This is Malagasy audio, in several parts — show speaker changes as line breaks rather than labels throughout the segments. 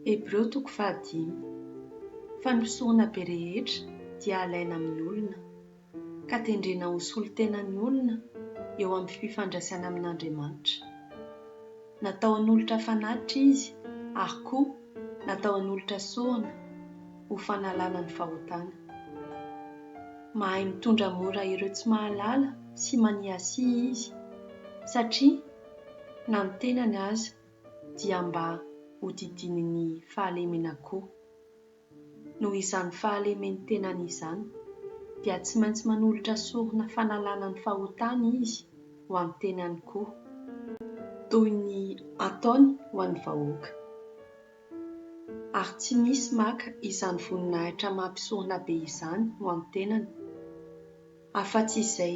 Hebreo toko fahadimy. Fanosehona be rehetra dia alaina amin'ny olona, ka tendrena ho solon-tena ny olona eo amin'ny fifandraisany amin'Andriamanitra. Natao hanolotra fanatitra izy ary koa natao hanolotra sorona ho fanalana ny fahotana. Mahay mitondra mora ireo tsy mahalala sy maniasia izy, satria na ny tenany aza dia mba hodidinin'ny fahalemena koa. Noho izany fahalemeny tenany izany, dia tsy maintsy manolotra sorona fanalana ny fahotany izy ho an'ny tenany koa, toy ny ataony ho an'ny vahoaka. Ary tsy misy maka izany voninahitra maha-mpisorona be izany ho an'ny tenany. Afa-tsy izay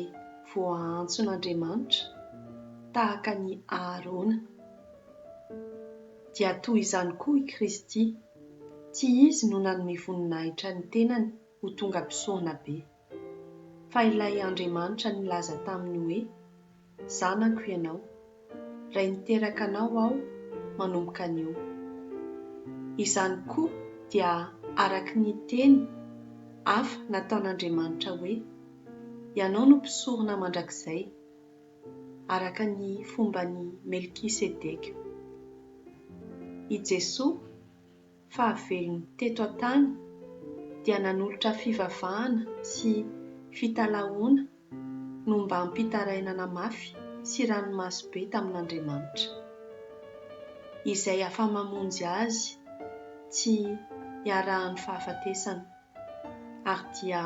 voaantson'Andriamanitra, tahaka an'i Aharôna. Dia toy izany koa i Kristy, tsy Izy no nanome voninahitra ny tenany ho tonga mpisorona be, fa ilay Andriamanitra nilaza taminy hoe, Zanako ianao, Ray niteraka anao aho manomboka anio. Izany koa dia araka ny teny hafa nataon'Andriamanitra hoe, Ianao no mpisorona mandrakizay, araka ny fomban'i Melkisedeka. I Jesoa fahavelony teto an-tany dia nanolotra fivavahana sy fitalahoana nombam-pitarainana mafy sy ranomaso be tamin'Andriamanitra, izay afa-mamonjy azy tsy iarahan'ny fahafatesana, ary dia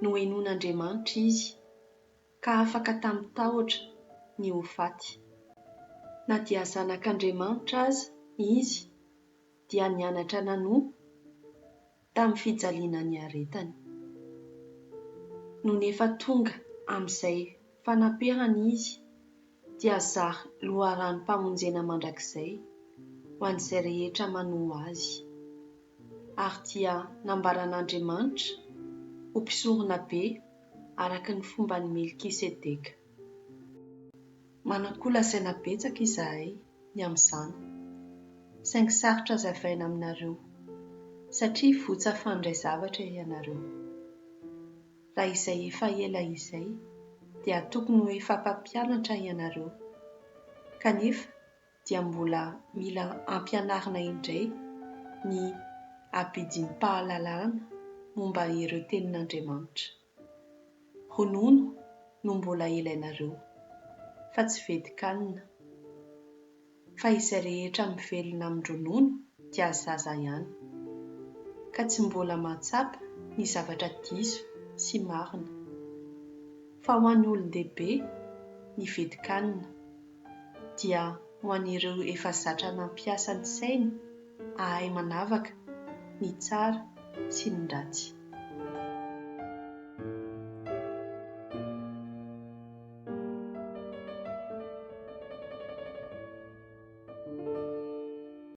nohenoin'Andriamanitra izy ka afaka tamin'ny tahotra ny ho faty. Na dia zanak'Andriamanitra aza izy dia nianatra nanompo tamin'ny fijaliana niaretany. Nony efa tonga amin'izay fanaperana izy dia zary loharanom-pamonjena mandrakizay ho an'izay rehetra manoa azy. Ary dia nambaran'Andriamanitra ho mpisoronabe araka ny fomban'i Melkisedeka. Manan-kolazaina betsaka izahay ny amin'izany, saingy sarotra hazavaina aminareo satria votsa fandray zavatra ianareo. Raha izay efa ela izay dia tokony ho efa mpampianatra ianareo, kanefa dia mbola mila ampianarina indray ny abidim-pahalalana momba ireo tenin'Andriamanitra. Ronono no mbola ilainareo fa tsy vedikanina. Fa izay rehetra mivelona amin-dronono dia zaza ihany. Ka tsy mbola mahatsapa ny zavatra diso sy marina. Fa ho an'ny olon-dehibe ny vedikanina. dia ho an'ireo efa zatra nampiasa ny sainy hahay manavaka ny tsara sy ny ratsy.